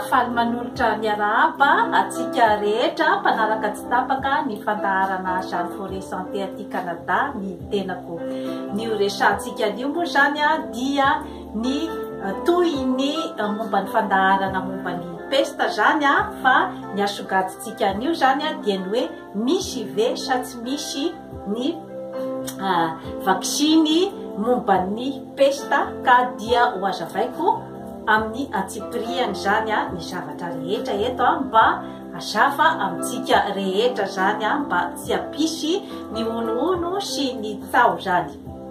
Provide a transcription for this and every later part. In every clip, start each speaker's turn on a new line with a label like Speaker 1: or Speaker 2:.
Speaker 1: faly manolotra miarahaba atsika rehetra mpanaraka tsy tapaka ny fandaharana jean foré santé aty canada ny tenako ny oresantsika anio moa zany a dia ny tohiny momba ny fandaharana momba ny pesta zany a fa ny asogadintsika anio zany a dia ny hoe misy ve sa tsy misy ny vaksiny momba ny pesta ka dia ho azavaiko amin'ny antsipirihany zany a ny zavatra rehetra eto a mba hazava amintsika rehetra zany a mba tsy hampisy ny honohono sy ny tsaho zany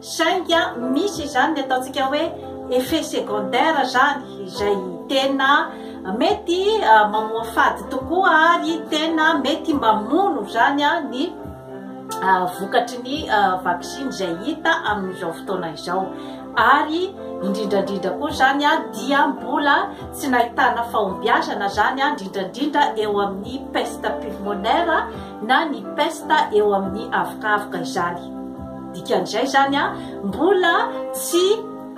Speaker 1: Saingy misy izany ny ataontsika hoe effet secondaire zany izay tena mety mamoafady tokoa ary tena mety mamono zany ny vokatry ny vaksiny izay hita amin'izao fotoana izao ary indrindrandrindra koa zany dia mbola tsy nahitana fahombiazana zany indrindrandrindra eo amin'ny peste pulmonaire na ny peste eo amin'ny avokavoka izany. Dikan'izay izany an, mbola tsy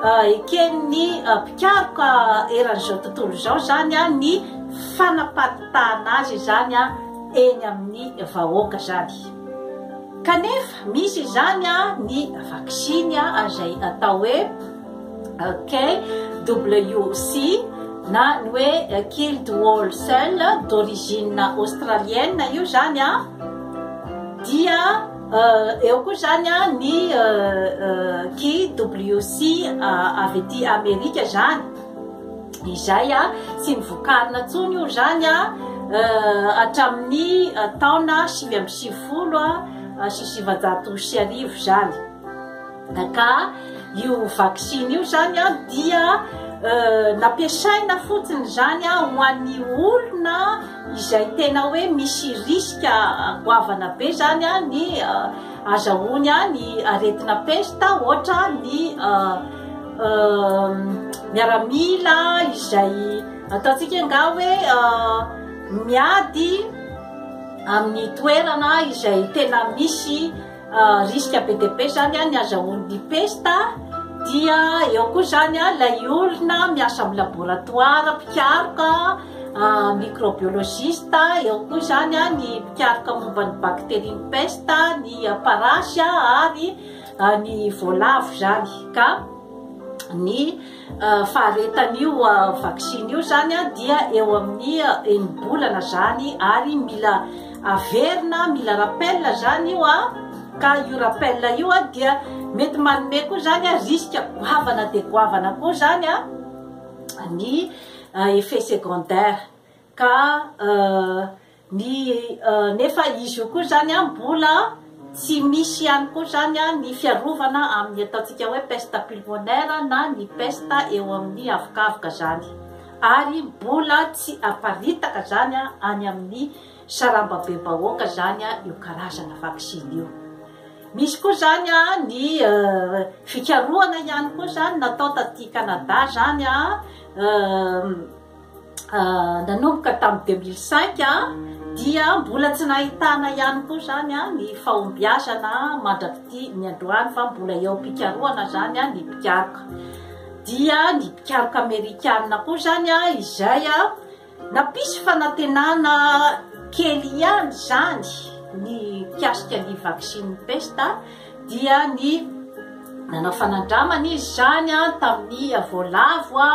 Speaker 1: eken'ny mpikaroka eran'izao tontolo izao izany an ny fanaparitahana azy izany an eny amin'ny vahoaka izany. Kanefa misy izany an ny vaksiny an izay atao hoe KWC na ny hoe killed wall cell d'origine australienne io izany an dia Eo koa izany ny KWC avy ety Amerika izany, izay tsy nivokarina intsony io izany hatramin'ny taona sivy amby sivifolo sy sivinjato sy arivo izany. Ka io vaksiny io izany dia nampiasaina fotsiny izany ho an'ny olona izay tena hoe misy risque goavana be zany ny azahoany ny aretina pesta ohatra ny miaramila izay ataontsika angaha hoe miady amin'ny toerana izay tena misy Risque be dia be zany ny azahoan'ny pesta dia eo koa zany ilay olona miasa amin'ny laboratoire, mpikaroka, microbiologiste, eo koa zany ny mpikaroka momba ny bacterie ny pesta, ny parasy ary ny voalavo zany ka. ny faharetan'io vaksiny io zany dia eo amin'ny enim-bolana zany ary mila averina mila rappel zany io a ka io rappel io a dia mety manome koa zany a risque goavana dia goavana koa zany a ny effet secondaire ka Ny nefa izy io koa izany an mbola tsy misy ihany koa izany an ny fiarovana amin ny ataontsika hoe peste pulmonaire na ny peste eo amin ny avokavoka izany ary mbola tsy aparitaka izany an any amin ny sarambabebahoaka izany an io karazana vaksiny io. Misy koa izany an ny fikarohana ihany koa izany natao taty Canada izany an nanomboka tamin'ny 2005 dia mbola tsy nahitana ihany koa zany a ny fahombiazana mandrak'ity ny androany fa mbola eo am-pikarohana zany a ny mpikaroka dia ny mpikaroka amerikana koa zany a izay a nampisy fanantenana kely ihany zany ny mpiasika ny vaksiny pesta dia ny nanao fanandramana izy zany a tamin'ny voalavo a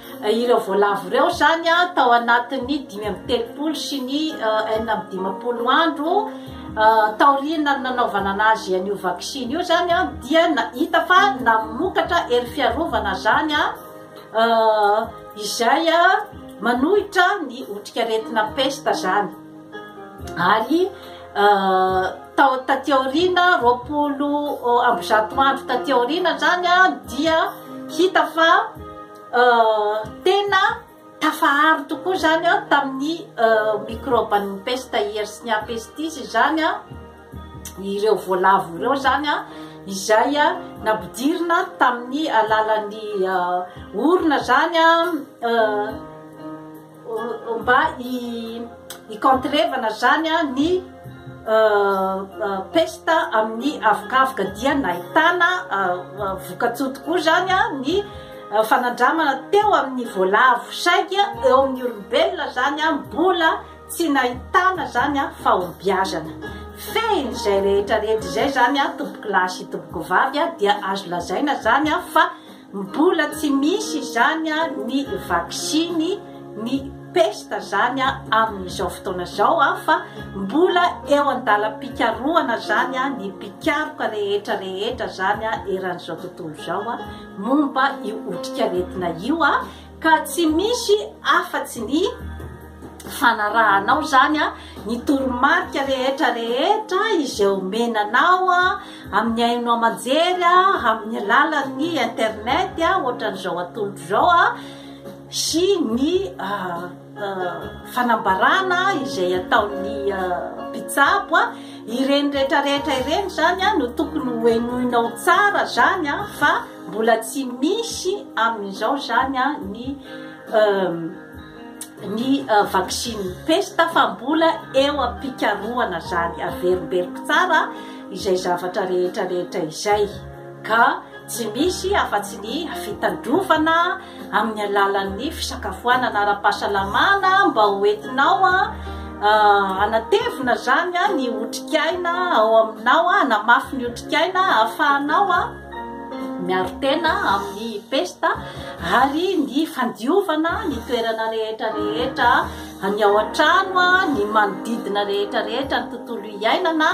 Speaker 1: Ireo voalavo ireo izany tao anatin'ny dimy amby telopolo sy ny enina amby dimampolo andro taoriana ny nanaovana anazy an'io vaksiny io izany dia hita fa namokatra hery fiarovana izany izay manohitra ny otrikaretina pesta izany. ary tao taty aoriana roapolo amby zato andro taty aoriana zany a dia hita fa tena tafaharo tokoa zany a tamin'ny microban'ny pesta hiersnya pestis zany a ireo voalavo ireo zany a izay a napidirina tamin'ny alalan'ny orona zany a mba hikôntrevana zany ny pesta amin'ny avokavoka dia nahitana vokatsoa tokoa zany ny fanandramana teo amin'ny voalavo saingy eo amin'ny olombelona zany mbola tsy nahitana zany fahombiazana fehiny izay rehetra rehetra izay zany tompokolahy sy tompokovavy dia azo lazaina zany fa Mbola tsy misy izany ny vaksiny ny pesta zany amin'izao fotoana izao fa mbola eo an-dalam-pikarohana zany ny mpikaroka rehetra rehetra zany eran'izao tontolo izao momba io otrikaretina io. Ka tsy misy afatsy ny fanarahanao izany ny toromarika rehetra rehetra izay omena anao amin'ny haino aman-jery amin'ny alalan'ny internet ohatran'izao atolotro izao sy ny fanambarana izay ataon'ny mpitsabo ireny rehetra rehetra ireny zany no tokony hohenoinao tsara zany fa mbola tsy misy amin'izao zany ny ny vaksiny pesta fa mbola eo am-pikarohana zany averimberiko tsara izay zavatra rehetra rehetra izay ka tsy misy afa-tsy ny fitandrovana amin'ny alalan'ny fisakafoanana ara-pahasalamana mba ho entinao hanatevina izany ny otrikaina ao aminao, hanamafy ny otrikaina ahafahanao miaro tena amin'ny pesta ary ny fandiovana ny toerana rehetra rehetra ny ao an-trano, ny manodidina rehetra rehetra ny tontolo iainana.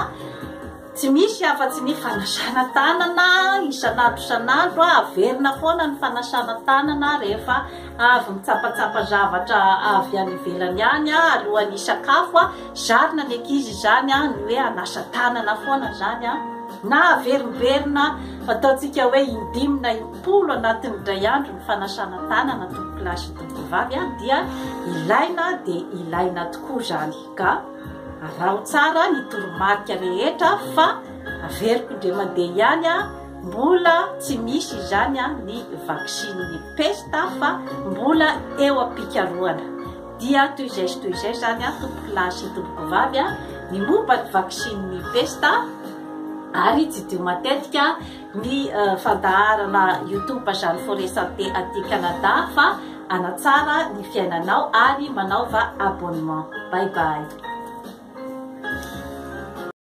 Speaker 1: Tsy misy afa-tsy ny fanasana tanana isan'andro isan'andro, averina foana ny fanasana tanana rehefa avy mitsapatsapa zavatra avy any ivelany any alohan'ny hisakafo, zarina ny ankizy izany ny hoe hanasa tanana foana izany na averimberinà ataontsika hoe in-dimy na im-polo anatin'ny indray andro ny fanasana tanana tompokolahy sy tompokovavy dia ilaina dia ilaina tokoa izany. Ka araho tsara ny toromarika rehetra fa averiko indray mandeha ihany a, mbola tsy misy izany a ny vaksiny ny pesta fa mbola eo am-pikarohana. Dia toy izay sy toy izay izany a tompoko lahy sy tompoko vavy a, ny momba ny vaksiny ny pesta ary jidio matetika ny fandaharana youtube Jeanne Forêt Santé aty Canada fa hanatsara ny fiainanao ary manaova abonnement. Bye bye.